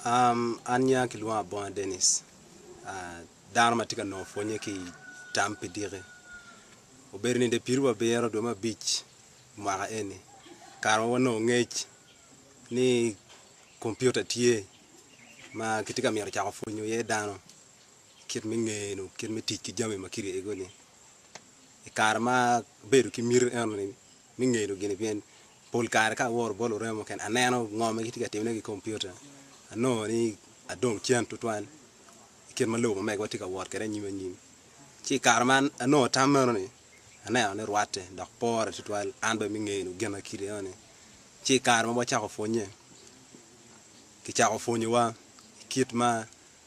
An nya kilwongo Abonga Denis dano ma tye ka nongo pwonye ki i tam pi diki. Obedo ninde pitu abiro dwe me abic mwaka eni kare ma wanongo ngec ni kompiuta tye ma kitye ka mito cako pwonyo iye dano. Kit me ngeye nyo kit me tic ki jami ma kiryego ni i kare ma abedo ki miti eno ni me ngeyo gini pien pol kare ka aworo bot lureme mukene aneno ngo ma gitye ka timone ki kompiuta anongo ni adong cen tutwal i kit ma lobo ma megawa tye ka wot kwede anyim anyim. Ci i kare ma anongo tam meno ni aneno ni rwatte dok pore tutwal an bene me ngeyo gin ma kit eno ni ci i kare ma wacako pwonye kicako pwonyowa kit ma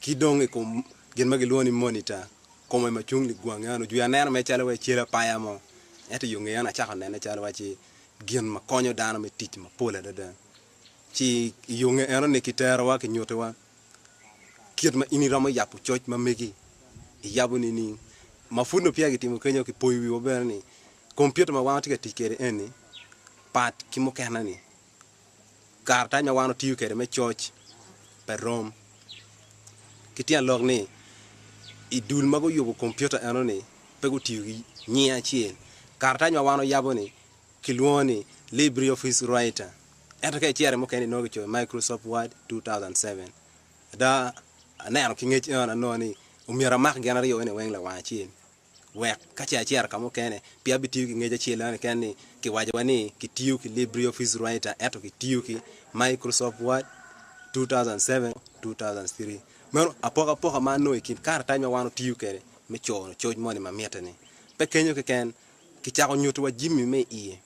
ki dong i kom gin ma gilwongo ni monita, kom aye ma cung i ligwangi eno, jwi aneno mere calo waci cal apaya mo. Ento i yo ngeye eno acako nene calo waci gin ma konyo dano me tic mapol adada. Ci i yo nge eno ni kiterowa kinyutiwa kit ma in iromo yabo coc ma megi, iyabo nining? Ma pud nongo peya kitimo kenyo, kipoyo wiwa bene ni kompiuta ma wan watye ka tic kwede eni pat ki mukene-ni. karatac ma wan watiyo kwede me coc pe rom. Ki tyen lok ni, i dul ma guyubo kompiuta enoni pe gutiyo ki nying acel. Karatac ma wan wayabo-ni kilwongo ni LibreOffice Writer, ento ka icito i mukene inongo kicoyo Microsoft Word 2007. Ada, aneno ki ngec enoni anongo ni omyero amak gin aryo-ni weng lawang acel. Wek ka ce acito ka mukene, pi abitiyo ki ngec acel eno keken ni kiwacowa ni kitiyo ki LibreOffice Writer ento kitiyo ki Microsoft Word 2007-2003. Meno apokapoka ma anongo i kin karatac ma wan otiyo kwede me cono coc moni ma mitte-ni. Pe kenyo keken, kicako nyutiwa jami me iye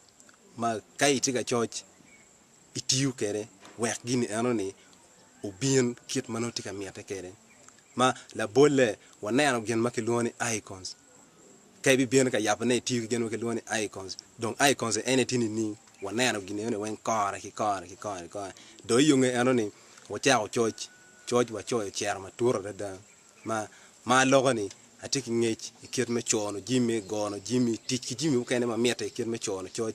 ma ka itye ka coc, itiyo kwede wek gin enoni obin kit ma nongo itye ka mitte kwede. Ma labolle, waneno gin ma kilwongo ni icons. Ka ibibino ka yabone itiyo ki gin ma kilwongo ni icons, dong icons en aye tye nining? Waneno gin enoni weng kore ki kore ki kore ki kore. Dong i yo nge enoni, wacako coc, coc wacoyo ociro matut adada ma ma aloko-ni atye ki ngec i kit me cono jami, gono jami, tic ki jami mukene ma mitte i kit me cono coc.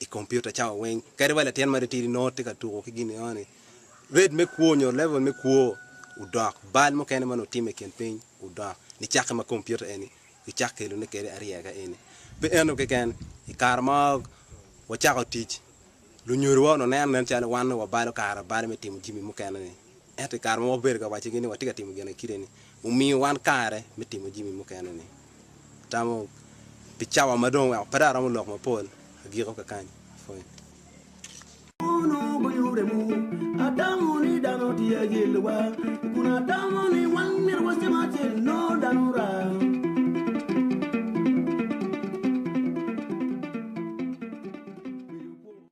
i kompiuta cawa weng. Kadi wa latin matitidi nongo tye ka tuko ki gin enoni, red me kwo nyo level me kwo odok, bal mukene ma nutimo i kin piny odok nicakke ma kompiuta eni gicak kelone kede aryeka eni. Pe ento keken, i kare ma wacako tic, lunyodowa onuneno nen calo wan nongo wabalo kare balo me timo jimi mukene-ni. Ento i kare ma wabedo ka waccigi ni watye ka timo gin i kite-ni, wumiyo wan kare me timo jami mukene-ni. Atamo pi cawa ma dong weko pe dong aromo lok mapol, agiko kakany. Pwony.